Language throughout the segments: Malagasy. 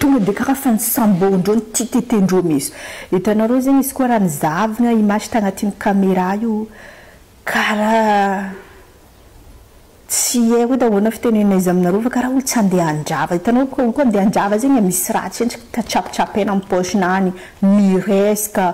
Tonga dia karaha fa nisamboandreo ny tititindreo mihintsy. Hitanareo zegny izy koa raha nizavona image tagnatin'ny camera io karaha tsy haiko edy ahoana fitenenana izy aminareo fa karaha olo tsy andeha handrava. Hitanao olo olo koa andeha handrava zegny misy raha tsy henjika trapetrapeina amin'ny paosiny agny, miresaka.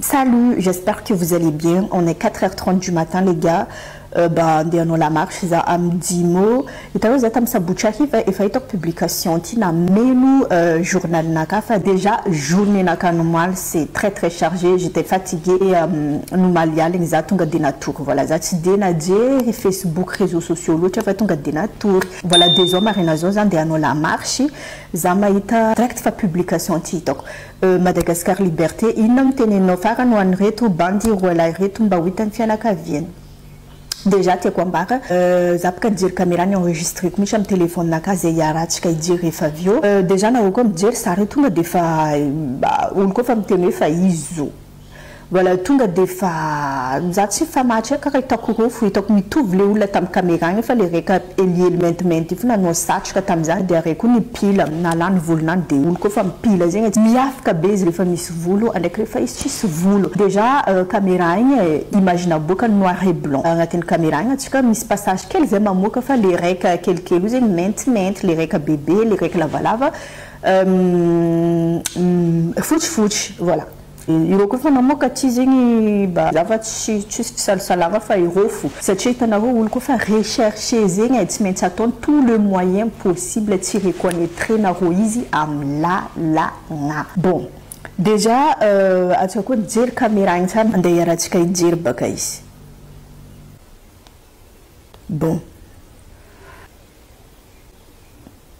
Salut, j'espère que vous allez bien, on est quatre heures trente du matin les gars, mba andeha hanao la marche za am Jimo, hitanao za tam sabotsy hariva efa hitako publication ty nameno journal naka fa dejà journée nakany omaly c'est très très chargé, j'etais fatigué omaly aligny za tonga de natory, voilà za tsy de najery facebook, réseaux sociaux loatra fa tonga de natory, voilà de zao maraina zao za andeha hanao la marche, Za mahita direct fa publication ty hitako. Euh Madagascar Liberté inona no teneninao farany ho an'ireto bandy roa lahy ireto mba ho hitan'ny fianakaviany. Déjà tiako ambara za bka nijery camera ni enregistreko mihitsy am telephone na ka zay iarahantsika hijery rehefa avy eo. Déjà nareo koa mijery zare tonga defa olo koa fa miteny hoe fa izy zo Mbola tonga dia fa za tsy nifamatrika ka hitako rofy hitako mitovy le olona tam camera any fa le reka helihely maintimainty io fa nanao satroka tam za dia re koa nipila na lany volony any dia olo koa fa mipila zegny e miavka be izy refa misy volo ndraiky refa izy tsisy volo dejà camera igny e imagine aboakany noir et blanc agnatiny camera igny atsika misy passage kely zay mamoaka fa le reka kelikely io zegny maintimainty le reka bebe le reka lavalava fotsifotsy voilà. Ireo koa efa namoaka aty zegny mba zava tsy tsisy fisalasalagna fa irofo satria hitanareo olo koa fa rechercher zegny e tsy maintsy ataony tout le moyen possible tsy reconnaître nareo izy am lalagna bon dejà atsika koa nijery camera igny tsara ande iarahantsika hijery baka izy bon.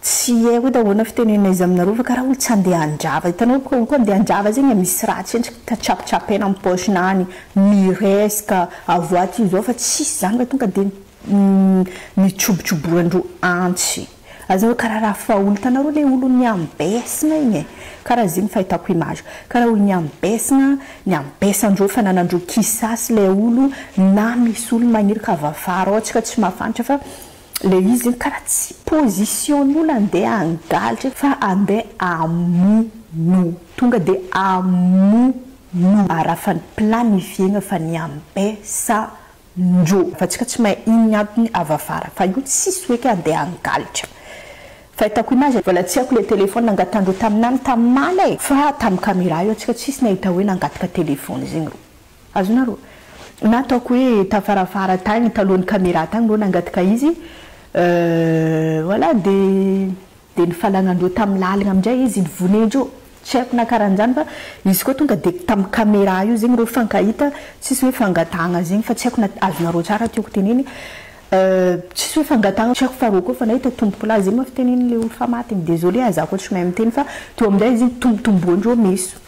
Tsy hay hoe ahoana fitenenana izy aminareo fa karaha hoe tsy andeha handrava. Hitanao ve koa andeha handrava zegny misy raha tsy henjika ka tsapotsapena am poche nany, miresaka, avoaty io zao fa tsisy zany fa tonga de mitsobotroboran-dro antsy. Aza hoe karaha raha fahaolo. Hitanareo le olo niambesina igny e. Karaha zegny fahitako image. Karaha olo niambesina, niambesan-dro fananan-dro kisasy le olo na misy olo magniry ka avafaro ao tsika tsy mahafantra fa Ilay izy zegny karaha tsy position-n'olo andeha hangalatra fa andeha hamono. Tonga dia hamono. Arafan'ny planifier-na fa ny ambesa-ndro. Fa tsika tsy mahay ino ny antony avy afara. Fa io tsisy hoe ka andeha hangalatra. Fahitako image, mbola tsy haiko ilay téléphone nangatahan-dreo tamin'any tamin'ny mala e! Fa tamin'ny camera io tsika tsisy nahita hoe nangataka téléphone zegny reo. Azonareo? Na ataoko hoe tafarafara tagny talohan'ny camera tagny reo nangataka izy euh voilà de de ny falagnandreo tam lalagna amindray izy nivonendreo tsy haiko na karanjany fa izy koa tonga de tam camera io zegny reo fankahita tsisy hoe fangatagna zegny fa tsy haiko na azonareo tsara tiako teneny euh tsisy hoe fangatagna tsy haiko fa reo koa efa nahita tompoko lahy zegny mafy tenenin'le olona efa maty igny désolé ah za koa tsy mahay miteny fa teo amindray izy igny tombotomboandreo meso.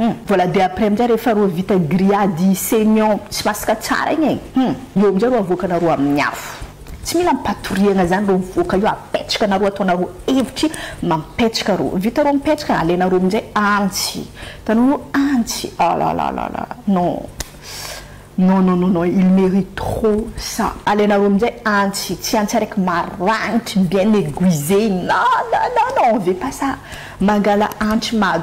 Hum. Voilà dia après amin'izay rehefa roa vita grillade saignant sy masaka tsara igny e! Hum. Eo amin'izay roa avoakanareo amin'ny afo. Tsy mila ampatoriagna zany roa mivoaka io, apetrakanareo ataonareo evitry mampetraka roa. Vita roa mipetraka alainareo amin'izay antsy. Hitanao antsy. Ah là là là là. Non. Non non non non il merite trop ça. Alainareo amin'izay antsy. Tsy antsy araiky maragnitry bien aiguisé igny. Non non non non on veut pas ça. Mangala antsy mado.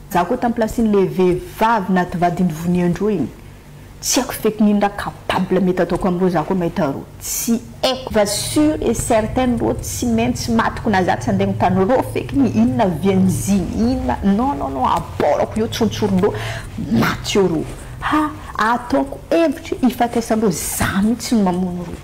Za ko tam place n'le vehivavy naty vadiny voniandroa igny tsy aiko feky nino ra capable mety ataoko amreo za ko mahita reo tsy aiko va sur et certaine reo tsy maintsy maty ko na za tsy ande mitano reo feky ny inona vianzigny inona non non non aporako eo tsontsory reo maty eo reo ha ataoko hevitry hifatesan reo za mitsy no mamono reo.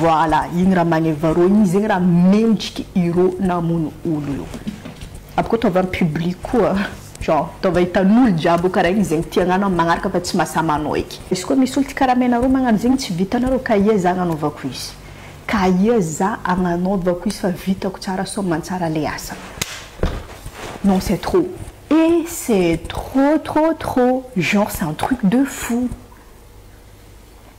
Voilà igny raha magneva rô igny zegny raha mendriky irô namono olo io aby ko ataova am public koa genre ataova hitanolo jiaby io kara igny zegny tiagnao anao magnaraka fa tsy mahasama anao eky izy ko misy olo ty kara menarô magnano zegny tsy vitanarô ka ia za agnanaovako izy ka ia za agnanaovako izy fa vitako tsara sao mantsara le asa non c'est trop et c'est trop trop trop genre c'est un truc de fou.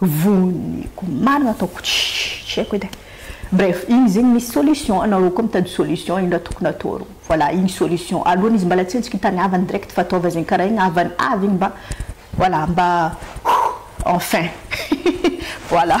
Voniko marina ataoko tsy haiko edy e. Bref, iny zegny misy solution, anareo koa mitady solution ino raha tokony atao rô. Voilà, iny solution. Aloany izy mbala tsy eo tsika tany havany direct fa ataova zegny karaha igny havany avy igny mba voilà mba enfin voilà.